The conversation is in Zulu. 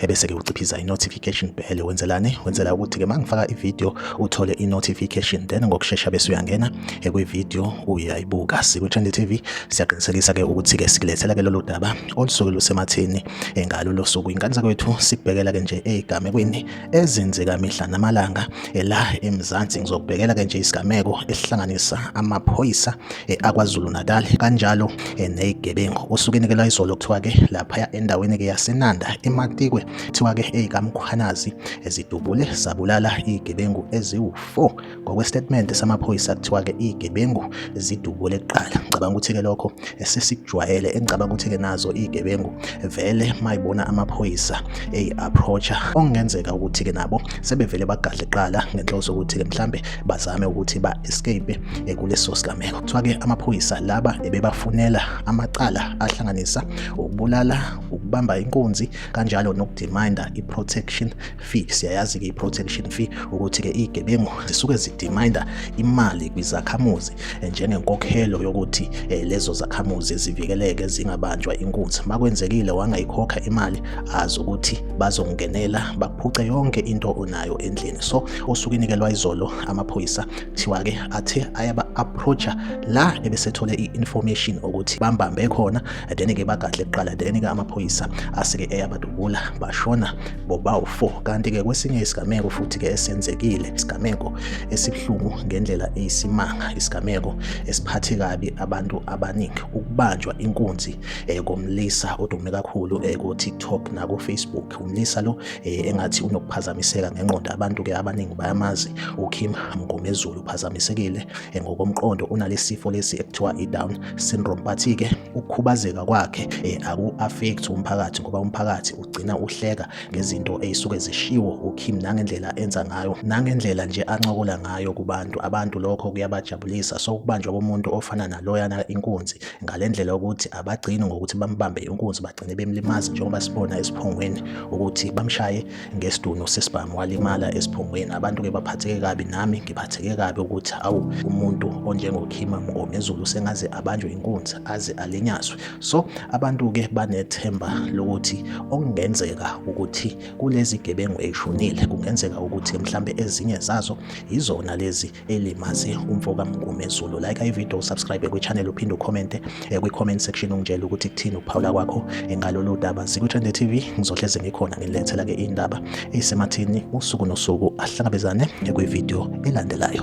ebese-ke uciphiza i-notification bell wenzelani wenzela ukuthi-ke uma ngifaka ividiyo uthole i-notification then ngokushesha bese uyangena ekwividiyo uyayibuka sikwi-trend tv siyaqinisekisa-ke ukuthi-ke sikulethela-ke lolu daba olusuke lusematheni ngalo lo suku ingane zakwethu sikubhekela-ke nje ey'gamekweni ezenzeka mihla namalanga la emzansi ngizokubhekela-ke nje isigameko esihlanganisa amaphoyisa eh, akwazulu natal kanjalo eh, neyigebengu usuke inikelwa izolo kuthiwa-ke laphaya endaweni-ke yasenanda ematikwe kuthiwa-ke eyikamkhwanazi ezidubule zabulala iyigebengu eziwu-four ngokwesitatimende samaphoyisa kuthiwa-ke iyigebengu zidubule kuqala ngicabanga ukuthi-ke lokho sesikujwayele engicabanga ukuthi-ke nazo iyigebengu vele mayibona amaphoyisa eyi-approacha okungenzeka ukuthi-ke nabo sebevele bagadle kuqala ngenhloso ukuthi-ke mhlambe bazame ukuthi ba-escape eh, kuleso sigameko. Kuthiwa-ke amaphoyisa laba ebebafunela amacala ahlanganisa ukubulala, ukubamba inkunzi kanjalo nokudimanda i-protection fee. Siyayazi-ke i-protection fee ukuthi-ke iy'gebengu zisuke zidimanda imali kwizakhamuzi eh, njengenkokhelo yokuthi eh, lezo zakhamuzi zivikeleke zingabanjwa inkunzi. Makwenzekile wangayikhokha imali azi ukuthi bazongenela baphuce yonke into onayo endlini. So osukwini-ke lwayizolo amaphoyisa kuthiwa ke athe ayaba approacha la ebesethole i-information ukuthi bambambe khona then ke bagadle kuqala then ke amaphoyisa asike eyabadubula bashona bobawu 4 kanti ke kwesinye isigameko futhi ke esenzekile isigameko esibuhlungu ngendlela eyisimanga isigameko esiphathe kabi abantu abaningi ukubanjwa inkunzi eh, komlisa odume kakhulu eh, ku-TikTok naku-Facebook umlisa lo eh, engathi unokuphazamiseka ngenqondo abantu ke abaningi bayamazi uKim Mngomezulu uphazamisekile eh, ngokomqondo unalesifo lesi ekuthiwa iDown syndrome but ke ukukhubazeka kwakhe eh, aku affect umphakathi ngoba umphakathi ugcina uhleka ngezinto ezisuke zishiwo uKim nangendlela enza ngayo nangendlela nje ancokola ngayo kubantu abantu lokho kuyabajabulisa so ukubanjwa komuntu ofana naloyana inkunzi ngale ndlela ukuthi abagcini ngokuthi bambambe inkunzi bagcine bemlimazi njengoba sibona esiphongweni ukuthi bamshaye ngesidunu sesibhamu walimala esiphongweni abantu-ke baphatheke kabi nami ngiphatheke kabi ukuthi awu umuntu onjengokhima mngomezulu sengaze abanjwe inkunzi aze alinyazwe so abantu-ke banethemba lokuthi okungenzeka ukuthi kulezi gebengu eyishonile kungenzeka ukuthi mhlambe ezinye zazo yizona lezi elimazi umfo kamngumezulu like ivideo usubscribe kwichannel uphinde ukhomente eh, kwi-comment section ungitshela ukuthi kuthini ukuphawula kwakho eh, ngalolu daba sikwi-trende tv ngizohleze ngikhona ngilethela-ke iy'ndaba eyisemathini usuku nosuku ahlangabezane eh, kwivideo elandelayo